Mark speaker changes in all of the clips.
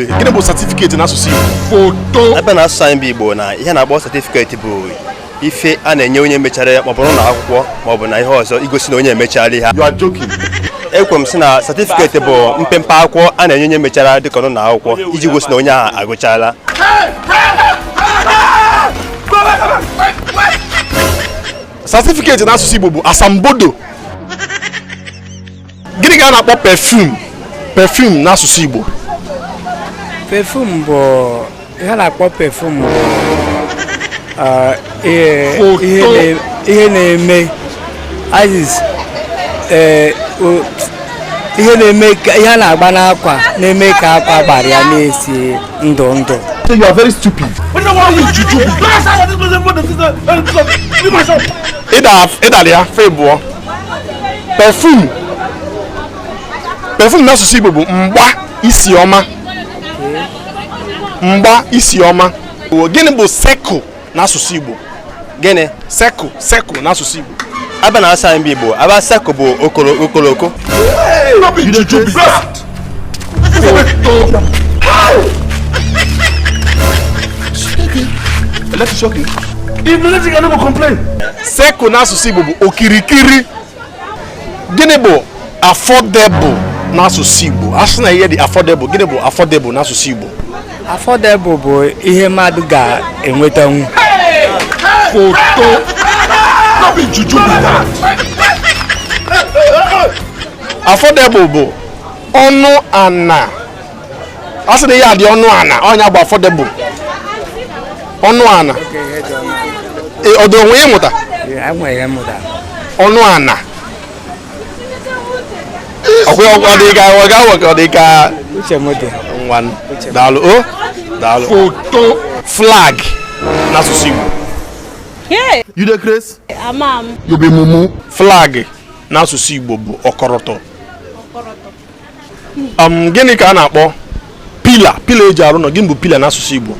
Speaker 1: gịnị bụ satifiketi n'asụsụ Igbo foto a bịa na
Speaker 2: asụsụ anyị bụ Igbo na ihe a na-akpọ satifiketi bụ ife a na-enye onye mechara ya maọbụrụ na akwụkwọ maọbụ na ihe ọzọ igosi na onye emechala ihe you are joking
Speaker 1: ekwe m sị
Speaker 2: na satifiketi bụ mpempe akwụkwọ a na-enye onye mechara dịka ọnụ na akwụkwọ iji gosi na onye ahụ
Speaker 1: agụchala satifiketi n'asụsụ Igbo bụ asambodo gịnị ka a na-akpọ pefum pefum n'asụsụ
Speaker 3: Igbo pefum bụ ihe a na-akpọ pefum bụ ah, ihe na-eme eh, ihe na-eme ka ihe a na-agba n'akwa na-eme ka akwa a gbara ya na-esi ndụ ndụ you are very
Speaker 1: stupid. ị dara ya fe bụọ pefum pefum n'asụsụ Igbo bụ mgba isi ọma mgba isi ọma gịnị bụ sekụl n'asụsụ Igbo
Speaker 2: gịnị sekụl
Speaker 1: sekụl n'asụsụ Igbo a bịa n'asụsụ
Speaker 2: Igbo ebe sekụl bụ okoloko
Speaker 1: sekụl n'asụsụ Igbo bụ okirikiri gịnị bụ affordable n'asụsụ Igbo a sị na ihe dị affordable gịnị bụ affordable n'asụsụ Igbo
Speaker 3: affordable bụ ihe mmadụ ga-enwetanwu
Speaker 1: foto no be juju be that. affordable bụ ọnụ ana a sị na ihe dị ọnụ ana ọ nya bụ affordable ọnụ ana ọ dị onwe ịmụta ọnụ ana ọkwụghị ọkwa dị ka ọ ga awọ ka ọ dị ka nwa daalụ o daalụ foto flag n'asụsụ Igbo you dey craze? ama m you be
Speaker 4: mumu
Speaker 1: flag n'asụsụ Igbo bụ ọkọrọtọ um, gịnị ka a na-akpọ pila pila eji arụ ụlọ gịnị bụ pila n'asụsụ Igbo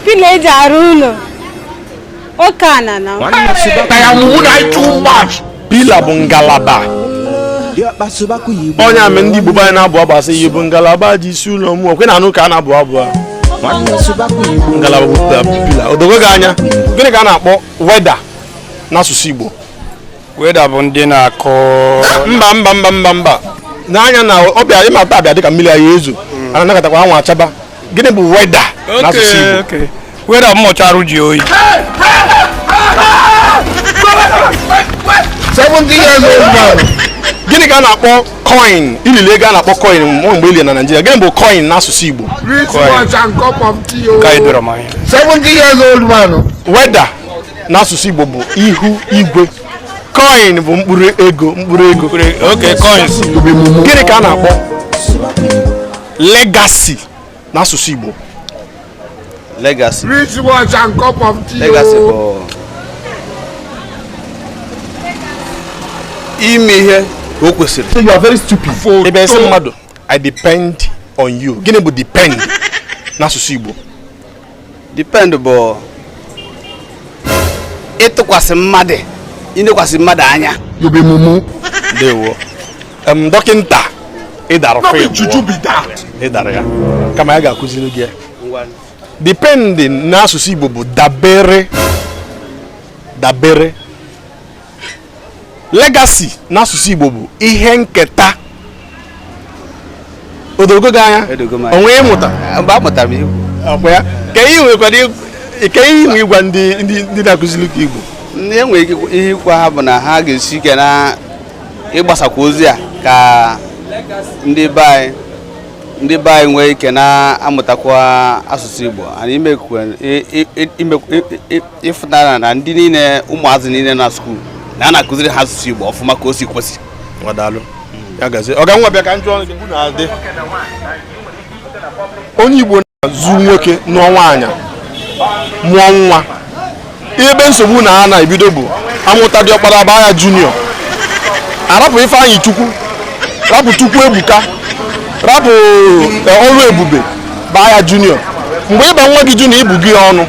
Speaker 4: pila eji arụ ụlọ oke ana
Speaker 1: na pila bụ ngalaba ọ nya mere ndị Igbo anyị na-abụ abụ a sị ị bụ ngalaba ji isi ndụ m ọkwa ị na-anụ ka a na-abụ abụ a ngalaba bụ pila o dogo gị anya gịnị ka a na-akpọ weda n'asụsụ Igbo weather
Speaker 3: bụ ndị na-akọ mba mba
Speaker 1: mba mba mba n'anya na ọ bịa ịmata abịa dịka mmiri anyị ezo hmm. a na-anagatakwa anwụ achaba gịnị bụ weather n'asụsụ Igbo weather mmụcha arụ
Speaker 3: ji oyi
Speaker 1: 70 years old man gịnị ka a na-akpọ coin i lili ego a na-akpọ coin mụ mgbe ili na Naịjirịa gịnị bụ coin n'asụsụ Igbo 70 years old
Speaker 5: man weather
Speaker 1: n'asụsụ Igbo bụ ihu igwe coin bụ mkpụrụ ego mkpụrụ ego
Speaker 3: okay coins gịnị ka
Speaker 1: a na-akpọ legacy n'asụsụ Igbo
Speaker 2: legacy wrist
Speaker 5: watch and cup of tea. legacy o.
Speaker 2: bụ ime ihe o kwesịrị So you are very stupid.
Speaker 1: Foto. ị bịa sị mmadụ I depend on you gịnị bụ depend n'asụsụ Igbo
Speaker 2: depend bụ ịtụkwasị mmadụ ịnekwasị mmadụ anya
Speaker 1: ndewo em dọkịnta ị dara fim ị dara ya kama ya ga-akụziri gị ya depend n'asụsụ Igbo bụ dabere dabere legacy n'asụsụ Igbo bụ ihe nketa o dogo gị anya onwe ịmụta mgbe amụtara m Igbo
Speaker 2: ọkwa ya ka
Speaker 1: ihe nwekwara ike ihe i nwe ịgwa ndị ndị na-akụziri gị Igbo ndị e
Speaker 2: nwere ihe ịgwa ha bụ na ha ga-esi ike n'ịgbasakwa ozi a ka ndị be anyị ndị be anyị nwee ike na-amụtakwa asụsụ Igbo na ịfụtara na ndị niile ụmụazị niile na skuul na a na-akụziri ha asụsụ Igbo ọfụma ka o si kwesị ngwa
Speaker 1: daalụ ya gazie ọga ngwa bịa ka m jụọ ọnụ gị bụ na-adị onye Igbo na-azụ nwoke nụọ nwaanyị mụọ nwa ebe nsogbu na ha na-ebido bụ a mụta diọkpara baa ya junior a rapụ Ifeanyịchukwu rapụ Chukwuebuka rapụ Ọrụebube baa ya junior mgbe ị ba nwa gị junior ị bụgo ya ọnụ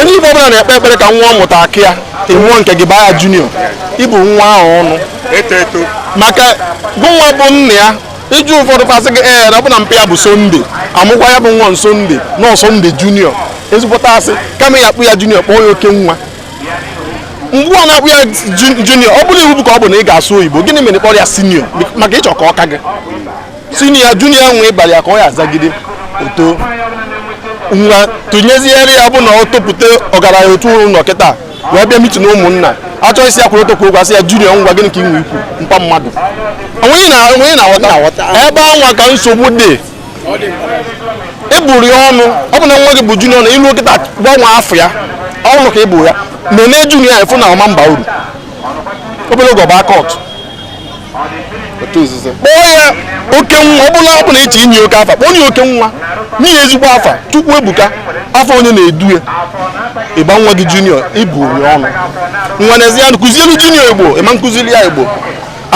Speaker 1: onye Igbo ọbụla na-ekpe ekpere ka nwa ọ mụta aka ya ị mụọ nke gị baa ya junior ị bụọ nwa ahụ ọnụ eto eto maka gụnwa bụ nna ya ị jụọ ụfọdụ fa asị gị ee na ọ bụ na mpa ya bụ Sunday a mụkwa ya bụ nwa na Sunday na ọ Sunday junior ezigbote asị kama ị ya-akpọ ya junior kpọọ ya oke nwa mgbe ọ na-akpọ ya ju- junior ọ bụrụ iwu bụ ka ọ bụ na ị ga-asụ oyibo gịnị mere ị kpọrọ ya senior maka ị chọ ka ọ ka gị siniya juniya nwe ị bali ya ka ọ ya azagide oto nwa tụnyeziere ya bụ na ọ topụta ọgaranya otu ụlọ kịta wee bịa mitin ụmụnna a chọọ ịsị ya kwụrụ ọtọ kwuo okwu a sị ya junior ngwa gịnị ka ị nwe ikwu mpa mmadụ onweghị na onweghị na-aghọta ebe anwa ka nsogbu dị ị bụrụ ya ọnụ ọ bụ na nwa gị bụ junior na ilu kịta gbanwe afa ya ọnụ ka ị bụ ya nene junior efu na ọ ma-aba uru obere oge ọ baa cult otu nzuzo kpọọ ya oke nwa ọbụla ọbụla ị chọọ inye oke afa kpọọ ya oke nwa nye ya ezigbo afa Chukwuebuka afa onye na-edu ya ị baa nwa gị junior ị bụọ ya ọnụ nwa n'ezi ya kụzielu junior igbo ị ma-akụzili ya igbo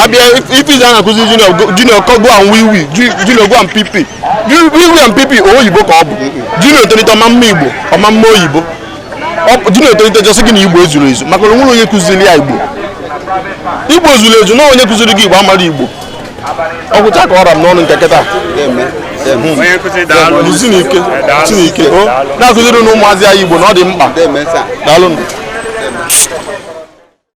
Speaker 1: abịa ife izi a na-akụzi junior go- junior kọ go and wiwi ju- junior go and pipi Ju- wiwi and pipi oyibo ka ọ bụ junior tolite ọ ma-ama igbo ọ ma-ama oyibo junior etolite ọ sị gị na igbo ezurọ ezu maka na o nwerọ onye kụziri ya igbo igbo zuru ezu na onye kụziri gị igbo amarọ igbo ọ gwụcha ka ọ ra m n'ọnụ nke kịta Chineke Chineke o na-akụziri nụ ụmụazị anyị Igbo na ọ dị mkpa daalụ